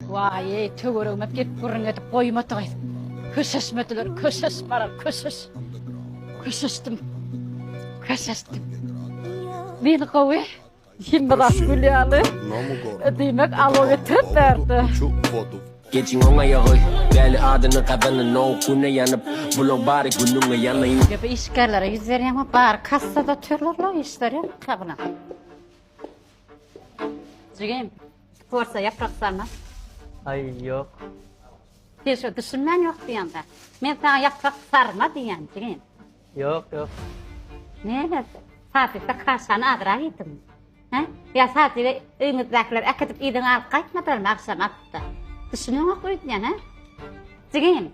Waýý, töweregime gelip gürrüň edip goýmadygy. Köşeşmediler, köşeşmara, köşeş. Köşeşdim. Köşeşdim. Men gowy. Kim bir az gülýärdi. Diýmek, alo getirip berdi. Geçiň oňa ýagy, däli adyny gazanyn, o güne ýanyp, bulaw bary günüňe ýanaýyn. Ýa bu işgärlere ýüz berýäňmi? Bary kassada otyrlar-la, işleri ýok-la bular. Jigim. Sporta ýaprak salmak. Aý, ýok. Sen şo düşünmän ýok diýýäň-dä. Men saňa ýaprak sarma diýýän, jigim. Ýok, ýok. Näme? Sadypda kaşany azrak iýdiňmi? Hä? Ýa sadyby öýüňizdäkiler äkidip iýdiň alyp gaýtmadylarmy agşam atypda? Düşüneňok öýdýän, hä? Jigim,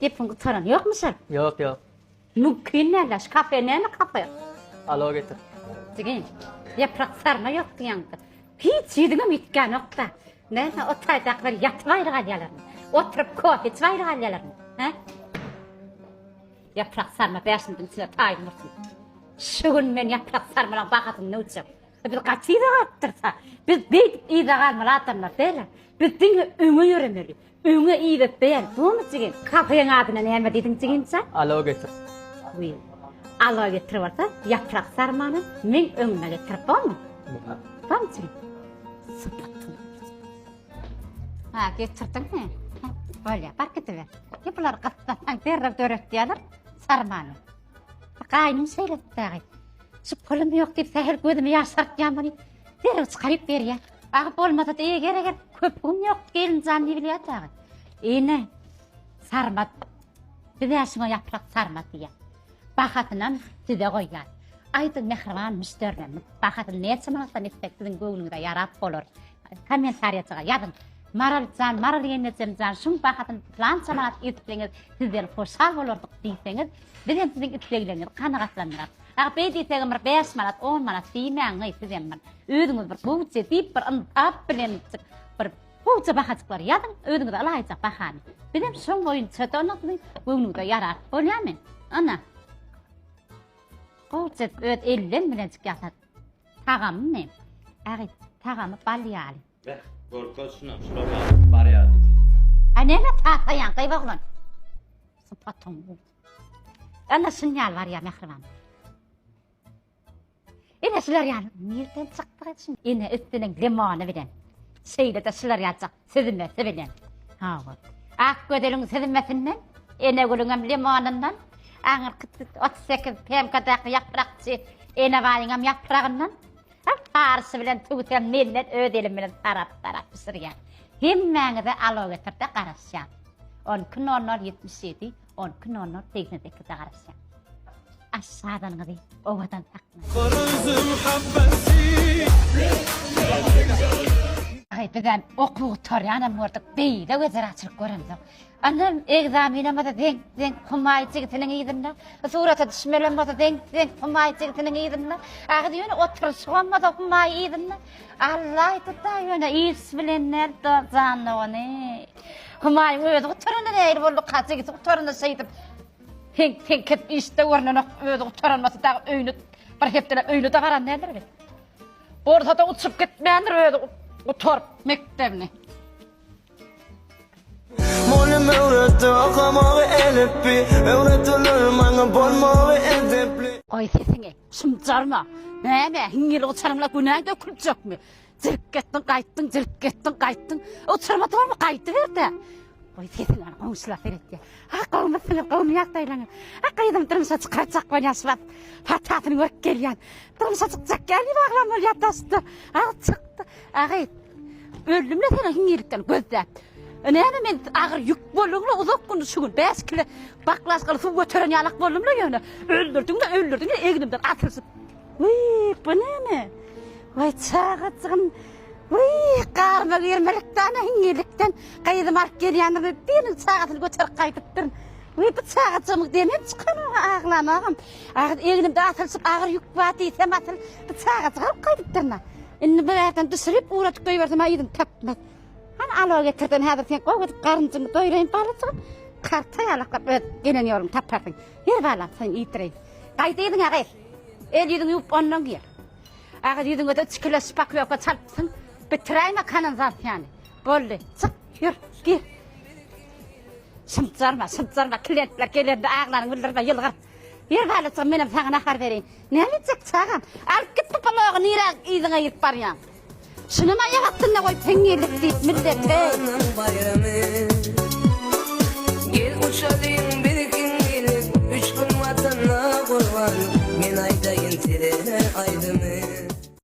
Gepiň gutaran ýokmy şol? Ýok ýok. Mümkin däl daş kafe näme kafe. Alo getir. Jigim ýaprak sarma ýok diýýäňdir. Hiç ýüzüňem ýitgänokda. Näme o taýdakylar ýatyp aýry galýalarmy? Oturyp kofe içip aýry galýalarmy? Hä? Ýaprak sarma bäşimiziň içine taýyn bolsun. Şu gün men ýaprak sarmalaň bahasyny nöwçek. Biz gaty ýygy galypdyrsa, biz beýdip ýygy galmaly adamlar däl. Biz diňe öňe ýöremeli. Öňe idep beýer bumy jigim. Kafeň adyna näme diýdiň jigimjan. Aloe getir. Wiý. Aloe getir bolsa ýaprak sarmany meň öňüme getir bolmy. Bam jigim. Sypatdyň. Ha getirdiň he. Bolýa bar gidiber. Ýa bular gyssatsaň derrew döretýärler sarmany. Gaýnym şeýle etdi dagy. Şu pulum ýok diýip sähel gözümi ýaşartýan muny. Derrew çykaryp berýär. Bagyp bolmasa diýe gerek et. Köp gün ýok gelinjan diýip bilýär dagy. Ine sarmat. Biz şuňa ýaprak sarmat diýýär. Bahasynam size goýýar. Aýdyň mähriban müşderimiz. Bahasyny näçe manatdan etsek siziň göwnüňize ýarap bolar. Kommentariýaçyga ýazyň. Maraljan, Maral ýeňňejemjan, şuň bahasyny plança manat etseňiz, sizden hoşal bolardyk diýseňiz, biz hem siziň isleglerinizi kanagatlandyrarys. Dagy beý diýsegem bir bäş manat, on manat diýmäň geý sizem bir. Özüňiz bir gowuja diýip bir yntap bilen bir gowuja bahajyklary ýazyň, özüňize ylaýyjak bahany. Bizem şoň boýunça-da onda siziň göwnüňize ýarar. Bolýamy? Ana. Gowuja öz elden bilenjik ýasat. Tagamy? Ägit, tagamy bal ýaly. Beh, görkez şuna, şular bar ýaly. Aý näme taýpaýaň, gyba oglan. Sypatyň. Ana şun ýaly bar ýa mähriban. Ene şular ýaly nirden çykdyk et şun ene üstüniň limony bilen. Şeýle de şular ýaljak süzmesi bilen. Ha bu. Ak gözeliň süzmesinden, ene gülüň hem limonundan, aňyrky 38 PMK-daky ýaprakçy ene baýyň hem ýapragyndan, Hak barysy bilen tüwsem menden öz elim bilen tarap tarap bişirýän. Hemmäňize alow efirde garaşýan. On iki nol nol ýetmiş ýedi on iki nol nol segsen sekizde garaşýan. Aşşadanyňyzy owadan saklan. Garaýsym habbasy. Aý bizem okuw gutarýanam gördük beýle wezeraçylyk göremzok. Ynhym, ekzaminimiz zeňk-zeňk Humaý jigitiniň yzynda, surata düşmelimiz zeňk-zeňk Humaý jigitiniň yzynda, agyz ýöne oturyşygymyz Humaý yzynda, Allaý tutaý ýöne iş bilen däl dost jan dogany. Humaý özi gutaranda nähili bolduka, jigisi gutaranda şeýdip heňk-heňk edip işde görnenok, özi gutaranmasy dagy öýüne bir hepdeläp öýüne-de garan däldir weli. Bolsa-da uçup gitmändir özi gutaryp mekdebini. Mugallym öwretdi okamagy elipbi, Öwrediler maňa bolmagy edepli. Goý sesiňi, şumjarma! Näme, hiňňil uçaryňla günä döküljekmi? Jirip gitdiň, gaýtdyň, jirip gitdiň, gaýtdyň. Uçaryma tormy gaýdyber-dä! Goý sesiňi, ana goňşular seretýär. Ah, gowumy siňir, gowumy ýagdaýlaryň? Ah, gyzymy durmuşa çykarjak bolýan şu wagt. Patasyny görüp gelýän. Durmuşa çykjak, gäl, ýüregem bolýar dost-da. Ah, çykdy. Agyz, öldüm-le seniň hiňňirlikden gözläp. Näme men agyr ýük boldum-la uzak gün şu gün bäş kile baklažkaly suw göteren ýalak boldum-la ýöne öldürdiň-le öldürdiň egnimden asylşyp. Wiý, bu näme? Waý çagajygym, wiý, garyma girmelik dana hiňňirlikden gyzymy alyp gelýändirme biriniň çagasyny göterip gaýdypdyryn. Wiý, bu çagajygymyň demem çykanok-a aglamagam. Agyz, egnimde asylşyp agyr ýük bar diýsem asyl bu çagajygy alyp gaýdypdyryn-a. Indi bir ýerden düşürip ugradyp goýbersemä yzyny tapmaz. Hany alo getirdim häzir sen gowy edip garynjyňy doýraýyn balajygym. Karta ýalaklap öz gelen ýoluňy taparsyň. Ýer balam sen iýdireýin. Gaýdy yzyňa gyz. El ýüzüňi ýuwup ondan gir. Agyz ýüzüňe de çikileş paklýoka çalypsyň. Bitiräýme kanalizasyýany. Boldy. Çyk, ýür, gir. Şymjarma, şymjarma, klientler gelende aglaryňy bildirme, ýylgyr. Ýeri galýaçam menem saňa nahar bereýin. Näme etjek çagam? Alyp git bu palogy nirä yzyňa girip barýaň. Şunam aýak astynda goý teňňelik diýip millet heý. Gel uçalyň birkin gelip üç gün watana gurban men aýdaýyn size aýdymy.